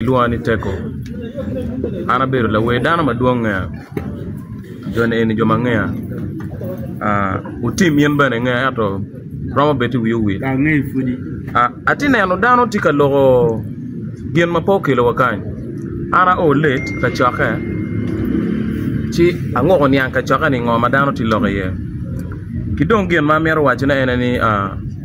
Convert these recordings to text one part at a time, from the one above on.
Gilwonga ni Teko. An abedo lawer dano madwong ngeya jo ni eni jo ma ngeya otim in bene ingeya ento romo bed iwiyi owil atye neno dano tye ka loko gin ma pe okelo wa kany an ao let kacokke ci angoko niang kacokke ni ngo ma dano tye loko iye ki dong gin ma amito wacci ne en aye ni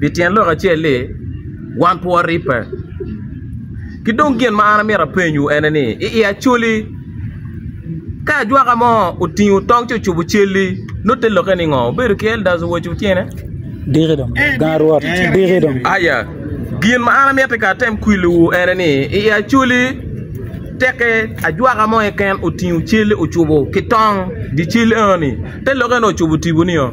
Pi tyen lok acel-li, wan pe waribbe. Ki dong gin ma an amito apenyowu ene ni, i i Acholi, ka ajwaka mo otingo tong ci ocubo cal-li, nongo te lokke ni ngo? Wubedo ki eldas owoco wu tyene? Aya, gin ma an amiti ka atem kwiliwu ene ni, i i Acholi, teke ajwaka mo keken otingo cal-li ocubo ki tong, dye cal enoni, te lokke ni ocubo tipo nio?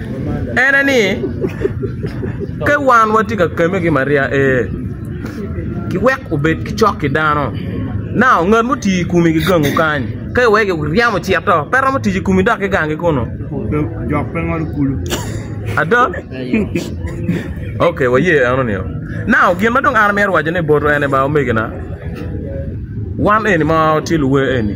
En aye ni, Ka wan watye ka kemme ki Maria, ee, kiwek obed ki cok ki dano. Nao ngat mo oti i komi gigangu kany, ka iweko iryemo cit do, pe romo tic i komi dok gigangi kunu? Ada? Ok, waye eno nio. Nao gin ma dong an amito wacone botwu en ni ba, omegina, wan eni ma watye luwe eni,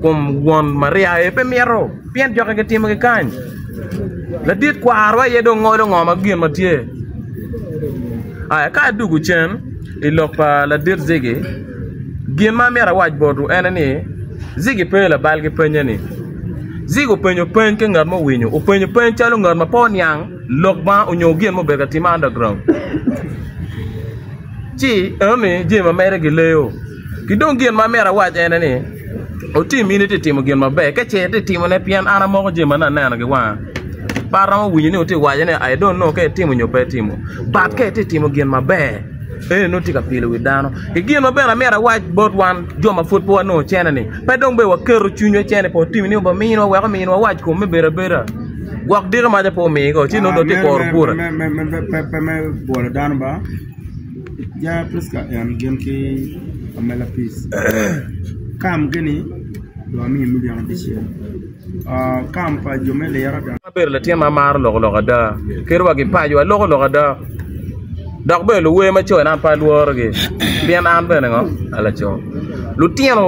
kom won Maria aye pe mito pien jokke gitimo kikany. Ladit kwarwa aye dong ngolo ngo ma gin ma tye. Aya ka adugu cen i lok pa ladit Zigi, gin ma amito awac botu ene ni Zigi pe labal ki penye ni. Zigi openyo peny ki ngat muwinyo, openyo peny calo ngat ma pe oniang lok ma onyo gin mubedo ka time underground. Ci eno ni jami ma mere gileo. Ki dong gin ma amyero awac en aye ni, otim in itye ka timo gin maber ka ce itye ka timone pien an amoko jami ma nongo aneno ki wanga. Pe aromo winyo ni wutye ka waco ni I don't know ka itimo nyo pe itimo but ka itye ka timo gin maber eno nongo itye ka pilo wi dano. Ki gin ma bene amyero awac bot wan jo ma pud pe wanongo ocene ni pe dong bed waketo cwinywa i cene pe watim nio ba minwa wek ominwa wac kom me bedo abeda gwok diki maca pe omigo ci nongo dong tye ka kuro bura. abedo latin ma amaro loko loka ada kadi wa gipaco aloko loka ada dok bene luwer ma cone an pe alworogi pien an bene ngo an laco lutino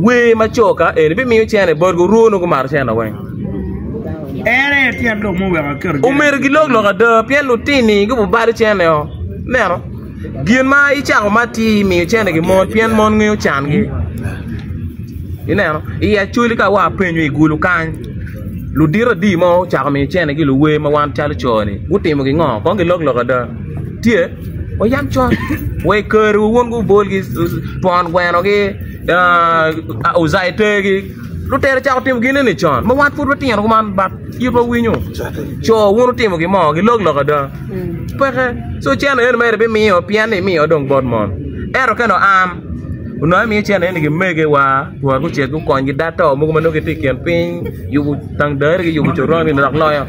wer ma coka eni bimiyo cene botgi orwo nongo gumaro cene weng Omyero gilok lok ada pien lutini gubalo cene oo ineno gin ma icako ma atir imiyo cene ki mon pien mon ngeyo can gi ineno i acholi ka wa penyo i gulu kany ludito adi ma ocako miyo cene ki luwer ma wan calo coo ni gutimo gi ngo kong gilok lok ada tye wa yam cot wa i kare wa wun gubol gi twon gweno gi aa ozaite gi. Lutera ocako timo ginene con ma wan pud watino kuman but itwa winyo co wun wutimo gin mo gilok lok ada peke so cene eno mere bimiyo pien ni imiyo dong bot mon ento ka dong an onongo imiyo cene eno ki megewa twar gucek gukony gida to mogo ma nongo gitye i kin piny yubo tangdari ki yubo coron ni dok loyo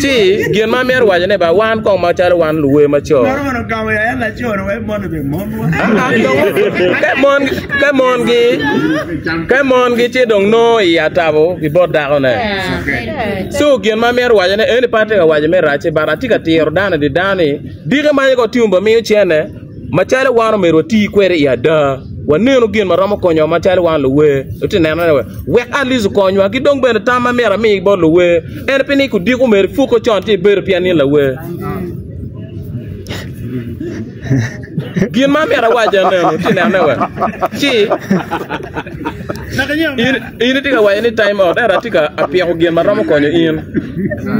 Ci gin ma amito waco ne ba wan kong ma calo wan luwe maco. Mano mono gamo ya en laco ni wek mon obe mon wa. Ke mon ke mon gi ke mon gi ci dong no i atabo i bot dako ne. So gin ma amito waco ne eni pa tye ka waco me rac ci bara tye ka tiro dano di dano ni dike ma yego tiumba miyo cene Macalo wan omyero wati kwede i ada, wanenu gin ma romo konyowa macalo wan luwe. Watye ka neno ni wek atleast okonywa ki dong bene tam ma myero ami bot luwe en pi ni odiko myero ipuke con ci ibedo pien in lawe. Gin ma myero awac ennu, watye ka neno ni ci in. In itye ka waco ni time out ento atye ka apyeko gin ma romo konyo in.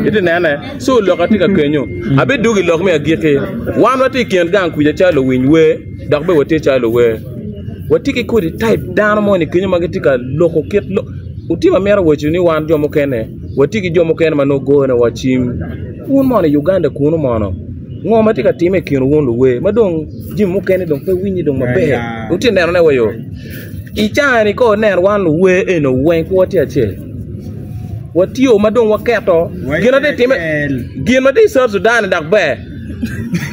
Iti nene? So lok atye ka kenyo. Abidwogo i lok me agikki. Wan watye i kin gang kuca calo luwiny wer dok bene watye calo luwer. Watye ki kodi type dano moni kenyo ma gitye ka loko kit lok. Otim amito waco ni wan jo mukene watye ki jo mukene ma nongo goyone wa cim. Wun mono i Uganda kunu mono ngo ma tye ka timme i kinwu wun luwer ma dong jami mukene dong pe winyi dong maber. Wutye ka nenone wa yo? I caa ni kong ineno wan luwer eni weng pe watye acel watye ma dong waketo gin ma tye ka timme gin ma tye i South Sudan ni dok ber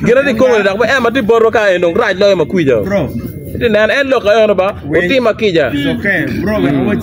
gin ma tye i Congo ni dok ber en ma tye i botwa kany ni rac loyo ma kwija-ni itye ka neno en lok eno ba otimo ma kica.